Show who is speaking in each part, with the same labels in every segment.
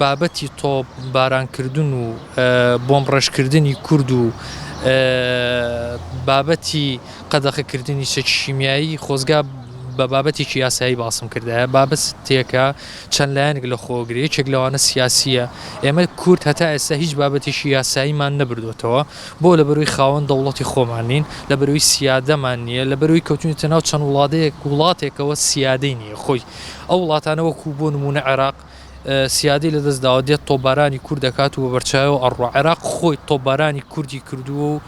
Speaker 1: بابەتی تۆپ بارانکردن و بۆم ڕێژکردنی کورد و بابەتی قەدەخەکردنی چەکی شیمیایی خۆزگا بە بابەتێکی یاسایی باسم کردایە بابەت تێکە چەند لایەنێک لە خۆگرێ یەکێک لەوانە سیاسیە ئێمە کورد هەتا ئێستا هیچ بابەتێکی یاساییمان نەبردوێتەوە بۆ لەبەروی خاوەن دەوڵەتی خۆمان نین لەبەروی سیادەمان نیە لەبەروی کەوتوینەتە ناو چەند وڵادەیەک وڵاتێکەوە سیادەی نیە خۆی ئەو وڵاتانە وەکو بۆ نمونە عێراق سیادی لە دەست داوە دێت تۆبارانی کورد دەکات و بە بەرچاوەوە ئەڕوا عێراق خۆی تۆبارانی کوردی کردووە و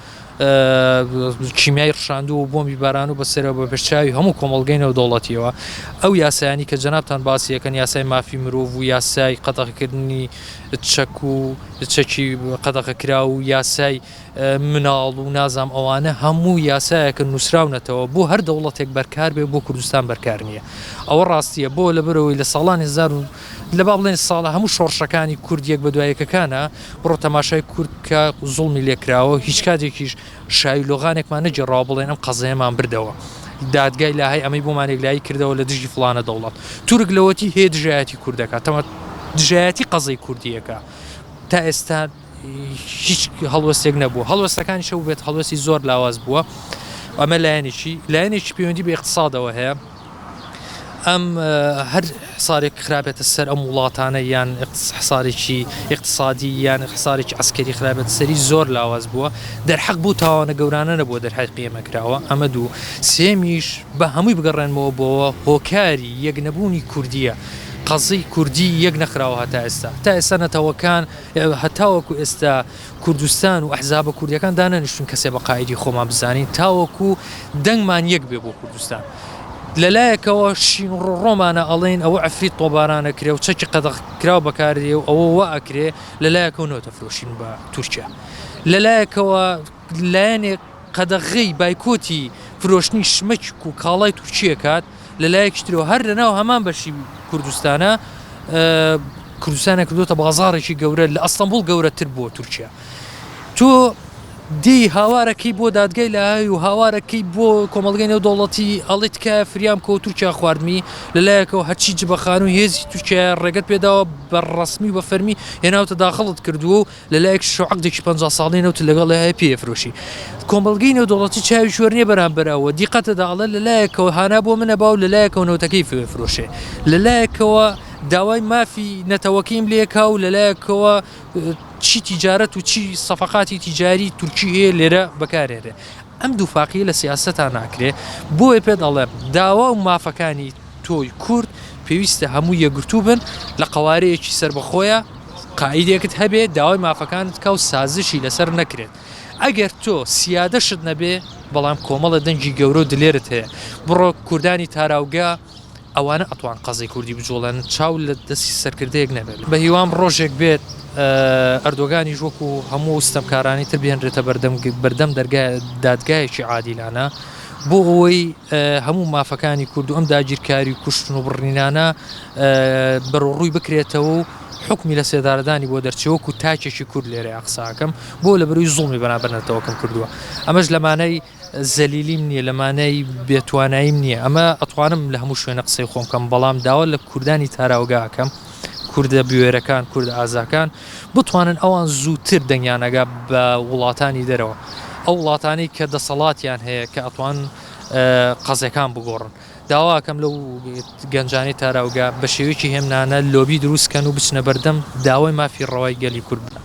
Speaker 1: کیمیای ڕشاندووە و بۆمی باران و بەسەرەوە بە بەرچاوی هەموو کۆمەڵگەی نەودەوڵەتیەوە ئەو یاسایانی کە جەنابان باسیەکەن یاسای مافی مرۆڤ و یاسای قەتەخکردنی چەک و چەکی قەدەغەکراو و یاسای مناڵ و نازام ئەوانە هەموو یاسایەکە نووسراونەتەوە بۆ هەر دەوڵەتێک بەرکار بێ بۆ کوردستان بەرکار نییە ئەوە ڕاستیە بۆ لە برەوەی لە ساڵانی هزار و لە با بڵێن ساڵە هەموو شۆڕشەکانی کوردیەک بە دوایەکەکانە بڕۆ تەماشای کورد کە زوڵمی لێکراوە هیچ کاتێکیش شایلۆغانێکمان نەگێڕاوە بڵێن ئەم قەزەیەمان بردەوە دادگای لاهای ئەمەی بۆمان یەکلایی کردەوە لە دژی فڵانە دەوڵەت تورک لەوەتی هەیە دژایەتی کوردەکە تەمە دژایەتی قەزەی کوردیەکە تا ئێستا هیچ هەڵوەستێک نەبوو هەڵوەستەکانی شەو بێت هەڵوەستی زۆر لاواز بووە ئەمە لایەنێکی لایەنێکی پەیوەندی بە اقتصادەوە هەیە ئەم هەر حسارێک خراپێتە سەر ئەم وڵاتانە یان حسارێکی اقتصادی یان حسارێکی ئەسکەری خراپێت سەری زۆر لاواز بووە دەرحەق بوو تاوانە گەورانە نەبووە دەرحەق قیمە کراوە ئەمە دوو سێمیش بە هەمووی بگەڕێنمەوە بۆەوە هۆکاری یەک نەبوونی کوردیە قەزەی کوردی یەک نەخراوە هەتا ئێستا تا ئێستا نەتەوەکان هەتاوەکو ئێستا کوردستان و ئەحزابە کوردیەکان دانەنیشتوین کەسێ بە قائیدی خۆمان بزانین تاوەکو دەنگمان یەک بێ بۆ کوردستان لە لایەکەوە شین و ڕۆڕۆمانە ئەڵێن ئەوە عەفریت تۆبارانە کرێ و چەکی قەدەغ کراو بەکاردێ و ئەوە وا ئەکرێ لە لایەکەوە نۆتە فرۆشین بە تورکیا لە لایەکەوە لایەنێک قەدەغەی بایکۆتی فرۆشتنی شمەک و کاڵای تورکیە کات لە لایەکی ترەوە هەر لەناو هەمان بەشی کوردستانە کوردستانە کردوتە بازارێکی گەورە لە ئەستەمبول گەورەتر بۆ تورکیا تۆ دی هاوارەکەی بۆ دادگای لای و هاوارەکەی بۆ کۆمەلگەی نێو دەوڵەتی ئەڵی تکایە فریام کۆ تورکیا خواردمی لەلایەکەوە هەرچی جبەخان و هێزی تورکیا ڕێگەت پێداوە بە ڕسمی بە فەرمی هێناوتە داخڵت کردووە و لەلایەکیش عەقدێکی پەنجا ساڵەی نەوتت لەگەڵی هەیە پێی ئەفرۆشی. کۆمەڵگەی نێودەوڵەتی چاوی کوێر نیە بەرامبەر ئەوە، دیقەتە دا ئەڵێ لەلایەکەوە هانا بۆ منە با و لەلایەکەوە نەوتەکەی فێ ئەفرۆشێ. لەلایەکەوە داوای مافی نەتەوەکەیم لێ کا و لەلایەکەوە چی تیجارەت و چی سەفەقاتی تیجاری تورکی هەیە لێرە بەکار هێنرێ. ئەم دووفاقیە لە سیاسەتا ناکرێ. بۆیە پێت ئەڵێم داوا و مافەکانی. تۆی کورد پێویستە هەموو یەکگرتوو بن لە قەوارەیەکی سەربەخۆیە قائیدێکت هەبێ داوای مافەکانت کا و سازشی لەسەر نەکرێت ئەگەر تۆ سیادەشت نەبێ بەڵام کۆمەڵە دەنگی گەورە و دلێرت هەیە بڕۆ کوردانی تاراوگە ئەوانە ئەتوان قەزی کوردی بجوڵێن چاو لە دەستی سەرکردەیەک نەبێت بە هیوام ڕۆژێک بێت ئەردۆگانیش وەکو هەموو ستەمکارانی تر بهێنرێتە بەردەم بەردەم دەرگای دادگایەکی عادیلانە بۆ ئەوەی هەموو مافەکانی کورد و ئەم داگیرکاری و کوشتن و بڕنینانە بەرەڕووی بکرێتەوە و حکمی لە سێدارەدانی بۆ دەرچەوەک و تاکێکی کورد لێرە قساکەم بۆ لە بەروی زوڵمی بەنابەرنەتەوەکەم کردووە ئەمەش لەمانای زەلیلیم نییە لەمانای بێتواناییم نییە ئەمە ئەتوانم لە هەموو شوێنە قسەی خۆمکەم بەڵام داوا لە کوردانی تاراوگاکەم کوردە بوێرەکان کورد ئازاکان بتوانن ئەوان زووتر دەنگیان ئەگا بە وڵاتانی دەرەوە ئەو وڵاتانەی کە دەسەڵاتیان هەیە کە ئەتوان قەزەکان بگۆڕن داواکەم لەو گەنجانی تاراوگە بە شێوەیەکی هێمنانە لۆبی دروستکەن و بچنە بەردەم داوای مافی ڕەوای گەلی کورد بکەن.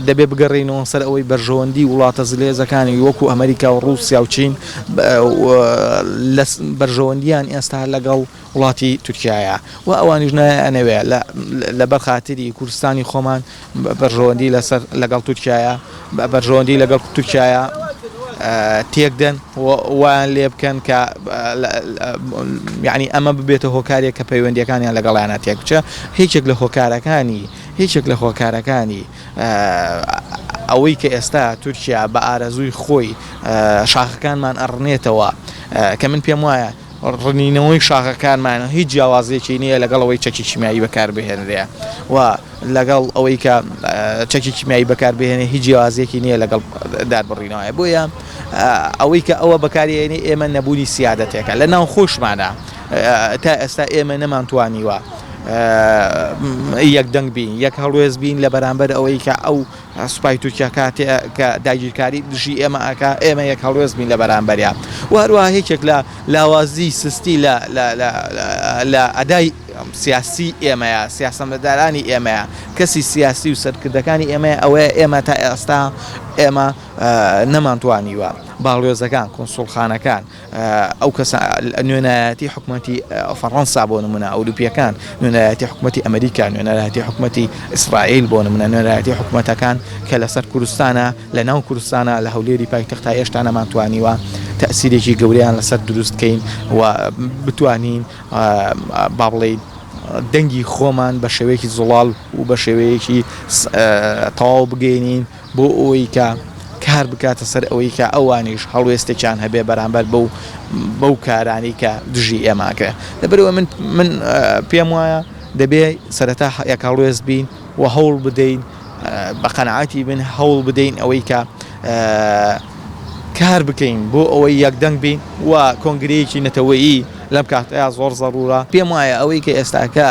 Speaker 1: دەبێ
Speaker 2: بگەڕێینەوە سەر ئەوەی بەرژەوەندی وڵاتە زلهێزەکانی وەکوو ئەمەریکا و ڕووسیا و چین بەرژەوەندییان ئێستا لەگەڵ وڵاتی تورکیایە و ئەوانیش نایانەوێ لە بەر خاتری کوردستانی خۆمان بەرژەوەندی لەسەر لەگەڵ تورکیایە بەرژەوەندی لەگەڵ تورکیایە تێک دەن وایان لێ بکەن کە یعنی ئەمە ببێتە هۆکارێک کە پەیوەندیەکانیان لەگەڵیانە تێک بچە هیچێک لە هۆکارەکانی هیچێک لە هۆکارەکانی ئەوەی کە ئێستا تورکیا بە ئارەزووی خۆی شاخەکانمان ئەڕنێتەوە کە من پێم وایە ڕنینەوەی شاخەکانمان هیچ جیاوازییەکی نییە لەگەڵ ئەوەی چەکی کیمیایی بەکاربهێنرێ و لەگەڵ ئەوەی کە چەکی کیمیایی بەکاربهێنێ هیچ جیاوازییەکی نییە لەگەڵ داربڕینەوەیە بۆیە ئەوەی کە ئەوە بەکارێنی ئێمە نەبوونی سیادەتێکە لە ناو خۆشمانە تا ئێستا ئێمە نەمانتوانیوە یەک دەنگ بین یەک هەڵوێست بین لە بەرامبەر ئەوەی کە ئەو سوپای تورکیا کاتێ کە داگیرکاری دژی ئێمە ئەکا ئێمە یەک هەڵوێست بین لە بەرامبەریا و هەروەها یەکێک لە لاوازی سستی لە لە ئەدای سیاسی ئێمەیە سیاسەمەدارانی ئێمەیە کەسی سیاسی و سەرکردەکانی ئێمەیە ئەوەیە ئێمە تا ئێستا ئێمە نەمانتوانیوە باڵوێزەکان کونسوڵخانەکان ئەو کەسە نوێنەرایەتی حکومەتی فەڕەنسا بۆ نمونە ئەوروپیەکان نوێنەرایەتی حکومەتی ئەمریکا نوێنەرایەتی حکومەتی ئیسرائیل بۆ نمونە نوێنەرایەتی حکومەتەکان کە لەسەر کوردستانە لە ناو کوردستانە لە هەولێری پایتەخت تا ئێشتا نەمان توانیوە تەسیرێکی گەوریان لەسەر دروست کەین و بتوانین با بڵین دەنگی خۆمان بە شێوەیەکی زوڵاڵ و بە شێوەیەکی تەواو بگەینین بۆ ئەوەی کە کار بکاتە سەر ئەوەی کە ئەوانیش هەڵوێستێکیان هەبێ بەرامبەر بەو بەو کارانەی کە دژی ئێماکرێ لەبەرەوە من من پێم وایە دەبێ سەرەتا یەک هەڵوێست بین و هەوڵ بدەین بە قەنعاتی بن هەوڵ بدەین ئەوەی کە کار بکەین بۆ ئەوەی یەکدەنگ بین و کۆنگرەیەکی نەتەوەیی لەم کاتەیە زۆر زەڕورە پێم وایە ئەوەی کە ئێستاکە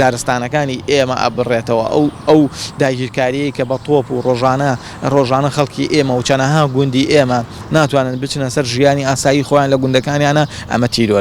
Speaker 2: دارستانەکانی ئێمە ئەبڕێتەوە ئەو ئەو داگیرکاریەی کە بە تۆپ و ڕۆژانە ڕۆژانە خەڵکی ئێمە و چەنەها گوندی ئێمە ناتوانن بچنە سەر ژیانی ئاسایی خۆیان لە گوندەکانیانە ئەمە تیرۆر.